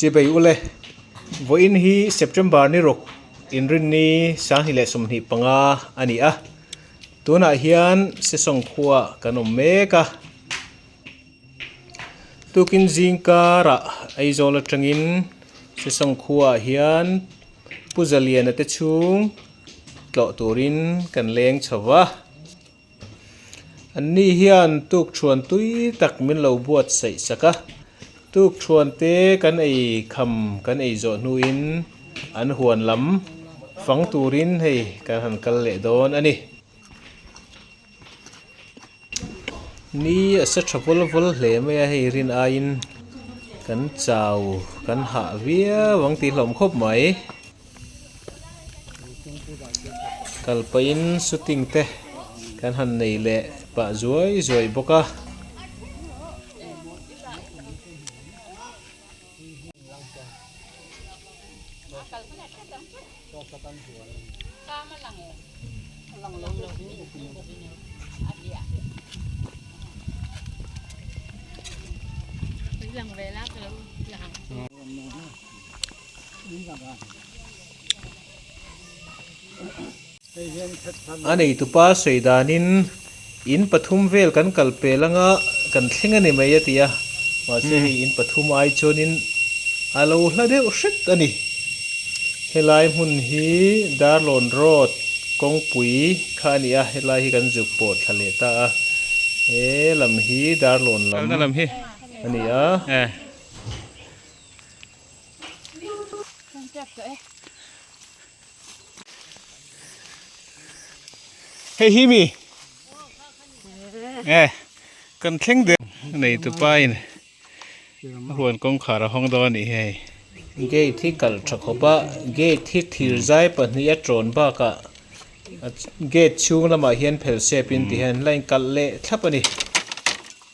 Che bei u le. Vawiin hi September ni ruk inrinni sanghnih leh sumhnih panga a ni a, tunah hian Sesawng khuaah kan awm mek a. Tukin zing karah Aizawl atangin Sesawng khuaah hian Pu Zaliana te chhung tlawh turin kan leng chho va. An ni hian tukthuan tui tak min lo buat saih sak a, tukthuan te kan ei kham kan ei zawh hnuin an huan lam fang turin hei kan han kal leh dawn a ni. Ni a sa tha vul vul hle mai a, hei rin aiin kan chau kan hah viau ang tih hlawm khawp mai. kal pahin shooting te kan han nei leh pah zuai zuai bawk a A neitupa sawi danin in pathum vel kan kal pel anga kan thleng a ni mai a ti a, mahse hei in pathum ai chuanin a lo hla deuh hrek a ni. Helai hmun hi Darlawn Road, Kawngpui kha a ni a, helai hi kan zuk pawh thla leh ta a, he lam hi Darlawn lam a ni a. Hei hi mi eh kan thleng de nei tu pa in huan kawng khar a hawng dawn a nih hi hei gate hi kalh tha khawp a gate hi thir zai pahnih a tawn bak a gate chhung lamah hian phel sep in ti hian line kalh leh thlap a ni.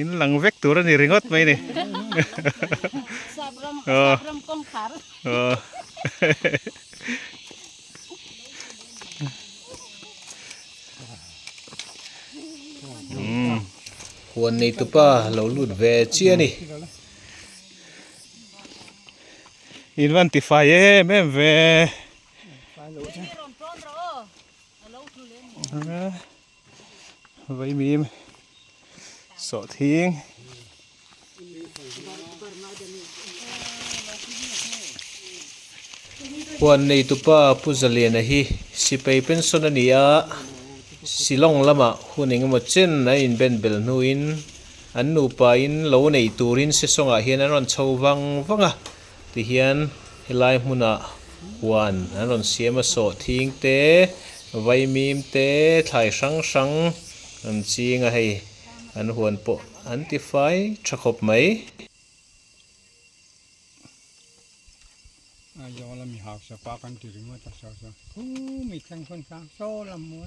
in lang vek tur a ni ringawt mai ni sap ram sap ram kawngkhar huan nei tupa lo lut ve chiah a ni in van ti fai em em ve Vaimim sawh thing. Huan neitupa Pu Zaliana hi sipai pension a ni a, Shillong lama hun engemaw chen an inben bel hnuin an nupa in lo nei turin sisawngah hian an rawn chho vang vang a. Tihian helai hmunah huan an rawn siam a sawh thing te, vaimim te, thlai hrang hrang an ching a hei an huan pawh an ti fai tha khawp mai. Aizawl a mi hausa pa kan ti ringawt a saw saw, hu mi thleng pawn sang saw lam maw?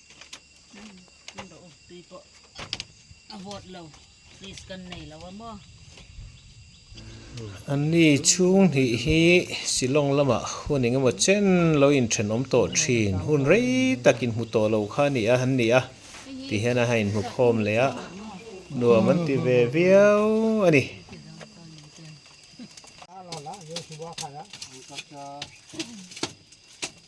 Kan dah u, tui pawh a vawt lo, please kan nei lo a maw? An ni chhung hnih hi Shillong lama hun engemaw chen lo inthenawm tawh thin, hun rei tak inhmu tawh lo kha a nih a, an ni a, tih hian a ha inhmukhawm leh a, nuam an ti ve viau a ni.